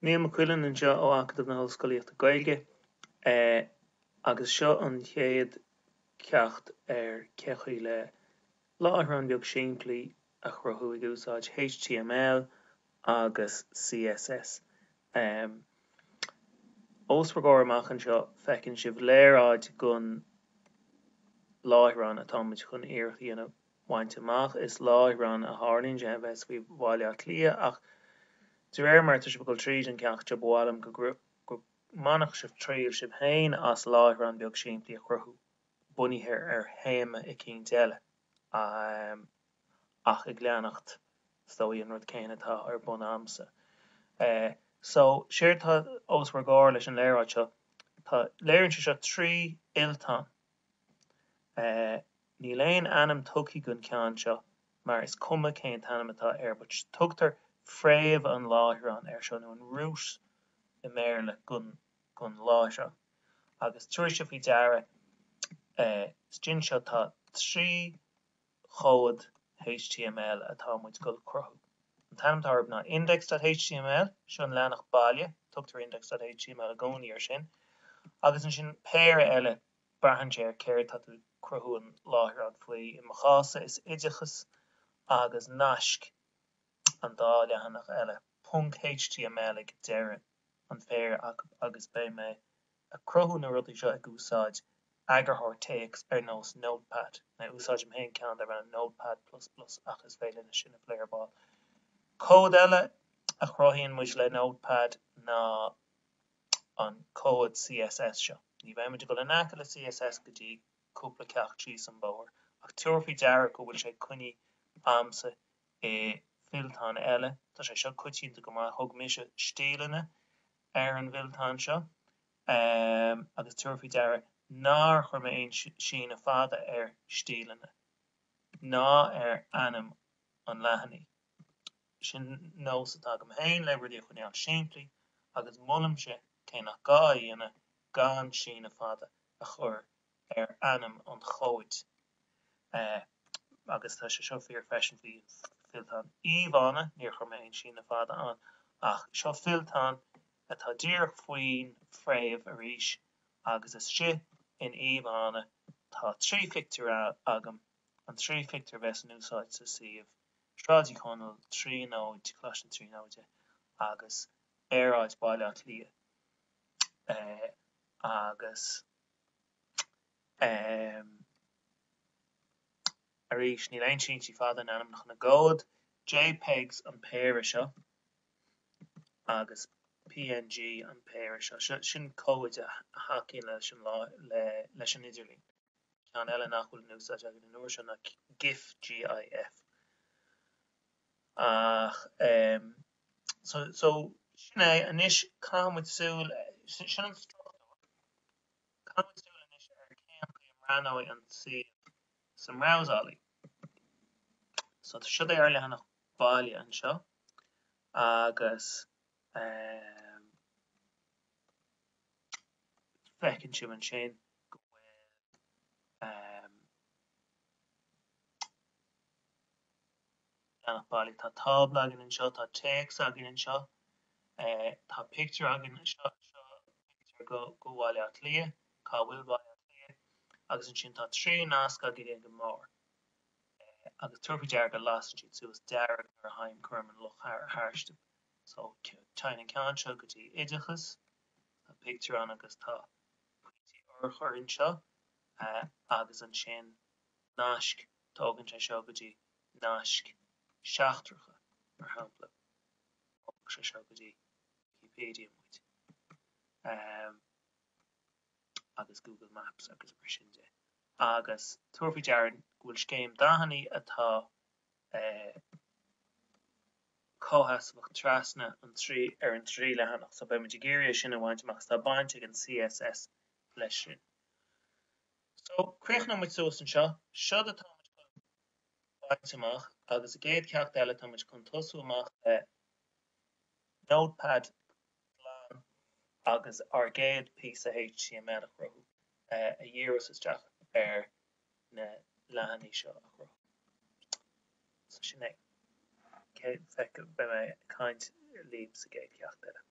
Niall Mac Uilinn anseo ó Acadamh na hOllscolaíochta Gaeilge agus seo an chéad ceacht ar cén chaoi le láithreán beag simplí a chruthú ag úsáid html agus CSS. Ós bhur gcomhair amach anseo feiceann sibh léaráid gon láithreán atá muid chun iarracht a dhéanamh bhaint amach. Is láithreán a tharlaíonn sé a bheas faoi Bhaile Átha Cliath ach de réir mar tá sibh ag dul tríd an ceacht seo ba mhaith liom go mbainfeadh sibh triail sibh féin as láithreán beag simplí a chruthú bunaithe ar théama eicínt eile ach ag leanacht is dóigh an rud céanna atá ar bun agamsa. So, séard tá os bhur gcomhair leis an léaráid seo, tá, léiríonn seo trí fhillteán. Níl aon ainm tugthaí gon cheann seo mar is cuma cén t-ainm atá air but tugtar fréamh an láithreán air seo nó an root i mBéarla gon láithreán agus tabhairigí faoi deara, istigh anseo tá trí chomhad html atá muid gul cruthú. An t-ainm atá orthub ná index.html, seo an leathanach baile, tugtar index.html i gcónaí ar sin, agus ansin péire eile, braitheann sé ar céard tá tú cruthú an láithreán faoi, i mo chás-sa is oideachas agus naisc an dá leathanach eile, ponc html ag deireadh an phéire acu agus beidh mé a cruthú na rudaí seo ag úsáid eagarthóir téacs ar nós Notepad. Úsáidim féin ceann darb ainm Notepad plus plus ach is féidir linn é sin a phlé ar ball. Comhad eile a chruthaíonn muid le Notepad ná an comhad CSS seo. Ní bheidh muid ag dul in aice le CSS go dtí cúpla ceacht síos an bóthar, ach tabhair faoi deara go bhfuil sé coinní a'msa i bhfillteán eile. Tá sé seo coitianta go maith, thug mise stíleanna ar an bhfillteán seo agus tabhair faoi deara nár chuir mé aon síneadh fada ar stíleanna ná ar ainm an leathanaigh. Sin nós atá agam féin le rudaí a choinneáil simplí agus molaimse cé nach gá a dhéanamh gan síneadh fada a chur ar ainm an chomhaid agus tá sé seo fíor freisin faoi fillteán íomhánna, níor chuir mé aon síneadh fada ann ach seo fillteán atá díreach faoin fréamh arís agus istigh in íomhánna tá trí phictiúr agam, an trí phictiúr a bheas in úsáid sa suíomh, Sráid Uí Chonaill, Tríonóid, Coláiste na Tríonóide agus aerfort Bhaile Átha Cliath agus. arís níl aon síntí fada in ainmneacha na gcomhad JPEGs an péire seo agus PNG an péire seo. Sin comhaid a thacaíonn leis an leis an idirlín. Ceann eile nach bhfuil in úsáid againn an uair seo ná GIF, GIF. ach so so sin é anois caithfimid súil sin an struchtúr caithfimid súil anois ar cén chaoi a mbreathnóidh an suíomh sa mbrabhsálaí so tá siad ar leathanach baile anseo agus feiceann sibh ansin go bhfuil leathanach baile Tá tábla againn anseo, tá téacs againn anseo, tá pictiúr againn anseo, seo pictiúr go go Bhaile Átha Cliath, cá bhfuil Baile Átha Cliath? agus ansin tá trí nasc againn ag an mbarr agus tabhair faoi deara go lasann siad suas dearg nuair a théim cuirim an luch tharstu so téann an ceann seo go dtí Oideachas, tá pictiúr ann agus tá pointí urchair anseo agus ansin. naisc, tógann sé seo go dtí naisc seachtracha, mar shampla, tógann sé seo go dtí Wikipedia muid agus Google Maps agus mar sin de, agus tabhair faoi deara go bhfuil scéim dathanna atá comhsheasmhach trasna an trí, ar an trí leathanach, so beimid ag iarraidh é sin a bhaint amach, is tá baint ag an CSS leis sin. So, críochnóidh muid suas anseo. Seo é atá muid chun baint amach agus sa gcéad cheacht eile tá muid chun tosú amach le Notepad glan agus ár gcéad píosa html a chruthú a dhíreos isteach ar na leathanaigh seo a chruthú. So sin é. Cé bheadh beidh mé ag caint libh sa gcéad cheacht eile.